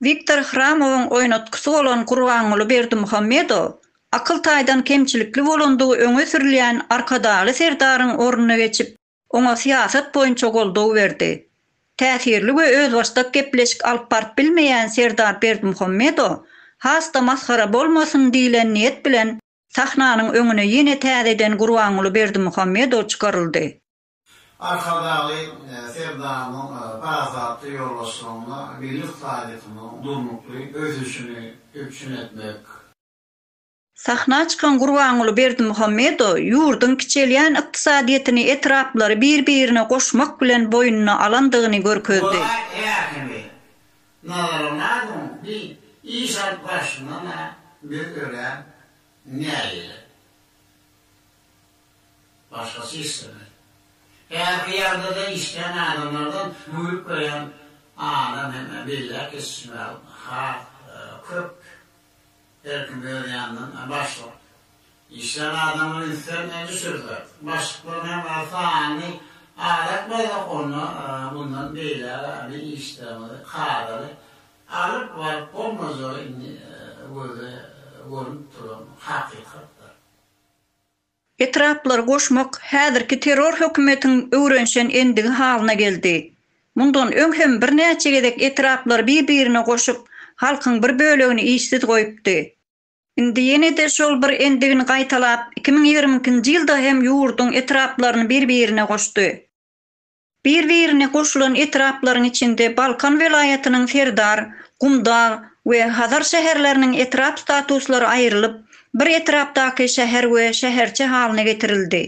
Wiktor Hramowyň oýnatgysy bolan Gurbanguly Berdimuhamedow akyl taýdan kemçilikli bolandygy öňe sürülýän Arkadagly Serdaryň ornuna geçip, oňa syýasat boýunça goldaw berdi. Täsirli we özbaşdak gepleşik alyp baryp bilmeýän Serdar Berdimuhamedow has-da masgara bolmasyn diýlen niýet bilen Sahnanyň öňüne ýene täzeden Gurbanguly Berdimuhamedow çykaryldy. Arkadagly Serdarymyzyň parasatly ýolbaşçylygynda milli ykdysadyýetimiziň durnukly ösüşini üpjün etmek, Sahna çykan Gurbanguly Berdimuhamedow ýurduň kiçelýän ykdysadyýetini etraplary bir-birine goşmak bilen boýnuna alandygyny görkezdi. Golaý ählimi Nazaramadyň bi iş alyp barşyňdan-a biz örän nägile. Başgasy islemeli. Häzirki ýagdaýda işleýän adamlardan güýlüp goýan adam hem belläp geçişmäge has köp Her kim öz ýanyndan baş bolup. Işlän adamlar ünslerine düşürdiler. Başlyklaryň hem sany azak bolsa, onda mundan beýläk-ä biz işlerimizi kadaly alyp baryp bolmajagy indi göze görnüp duran hakykatdyr. Etraplary goşmak häzirki terror hökümetiň öwrenişen endigi halyna geldi. Mundan öň hem birnäçe gezek etraplary bir-birine goşup, halkyň bir bölegini işsiz goýupdy. Indi ýene-de şol bir endigini gaýtalap, iki müň ýigrimi ikinji ýylda hem ýurduň etraplaryny bir-birine goşdy. Bir-birine goşulan etraplaryň içinde Balkan welaýatynyň Serdar, Gumdag we Hazar şäherleriniň etrap statuslary aýrylyp, bir etrapdaky şäher we şäherçe halyna getirildi.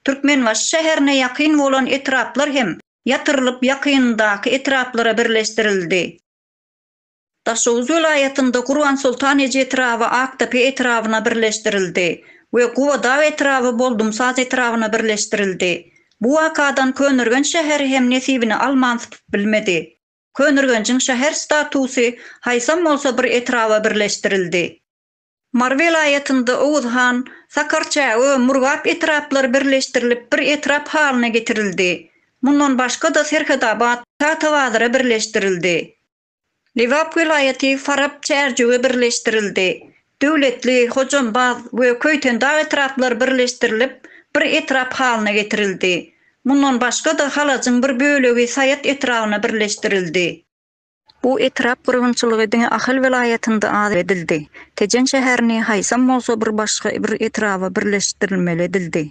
Türkmenbaşy şäherine ýakyn bolan etraplar hem ýatyrylyp ýakynyndaky etraplara birleşdirildi. Daşoguz welaýatynda Gurbansoltan eje etraby Akdepe etrabyna birleşdirildi we Gubadag etraby Boldumsaz etrabyna birleşdirildi. Bu wakadan Köneürgenç şäheri hem nesibini alman sypyp bilmedi. Köneürgenjiň şäher statusy haýsam bolsa bir etraba birleşdirildi. Mary welaýatynda Oguz han, Sakarçä we Murgap etraplary birleşdirilip bir etrap halyna getirildi. Mundan başga-da Serhedabat, Tatabazyra birleşdirildi. Lebap welaýaty Farap çärjewä birleşdirildi. Döwletli, Hojambaz we Köýtendag etraplary birleşdirilip, bir etrap halyna getirildi. Mundan başga-da Halajyň bir bölegi Saýat etrabyna birleşdirildi. Bu etrap gyrgynçylygy diňe Ahal welaýatynda az edildi. Tejen şäherini haýsam bolsa bir başga bir etraba birleşdirilmeli edildi.